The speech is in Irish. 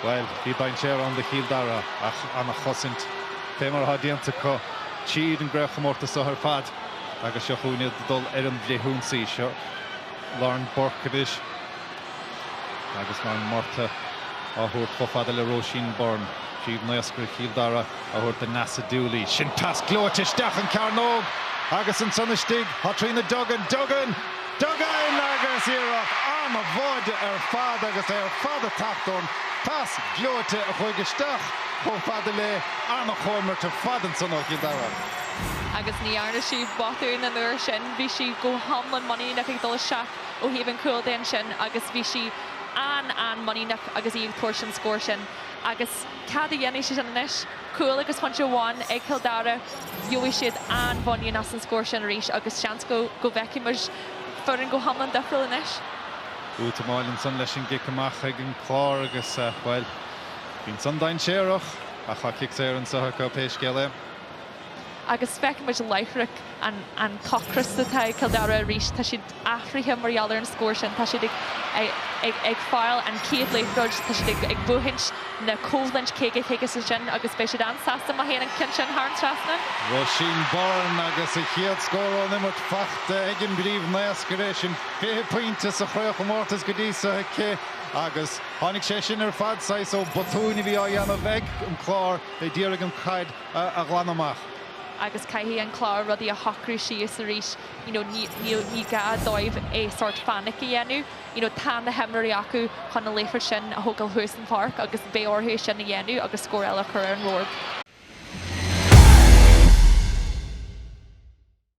Bhuel, bhí dainséar ann do Chill Dara ach ana chosaint, fé mar atá déanta acu tríd an gcraobh chomórtas seo ar fad agus seo chugainn iad ag dul ar an bhfrithionsaí. Seo Lauren Burke anois agus Lauren Murtagh á thabhairt chomh fada le Róisín Byrne. Príomh-naoscaire Chill Dara. á thabhairt do Neasa Dooley. Sin pas gleoite isteach an chearnóg agus ansan istigh thá Tríona Duggan. Duggan! Duggan! Agus iarracht an-mhaith ar fad agus é ar fad ag teacht ón bpas gleoite a chuaigh isteach chomh fada léi. An-chomhimirt ar fad ansan ó Chill Dara. Agus ní dhearna sí botún an uair sin. Bhí sí go hiomlán muiníneach ag dul isteach ó thaobh an chúl de ansin agus bhí sí an-an-muiníneach agus í ag tabhairt an scór sin. Agus cad a dhéanfaidh siad anois? Cúl agus pointe amháin ag Cill Dara, gheobhaidh siad an-mhuinín as an scór sin arís agus seans go bhfeicfidh muid foireann go hiomlán difriúil anois. Útamáil ansan leis an gcic amach ag an gClár agus, bhuel, bíonn san dainséarach ach tá cic saor anso acu pé scéal é. Agus feiceann muid láithreach an t-ocras atá ag Cill Dara arís. Tá siad athraithe mar gheall ar an scór sin. Tá siad ag fáil an chéad liathróid, tá siad ag buachaint na coimhlint caoga caoga sin agus beidh siad an-sásta má théann an ceann sin thar an trasnán. Róisín Byrne agus a chéad scór ón imirt faighte ag an bpríomh-naoscaire. Sin fiche pointe sa chraobhchomórtas go dtí seo aici agus tháinig sé sin ar fad saghas ó bhotúin a bhí á dhéanamh ag an gClár ag iarraidh an chaid a ghlanadh amach. agus caithfidh an Clár rudaí a shocrú síos arís you know ní níl ní gá dóibh é sórt panic a dhéanamh you know tá na himreoirí acu chun an liathróid sin a thógáil thuas an pháirc agus beidh orthu é sin a dhéanamh agus scór eile a chur ar an mbord.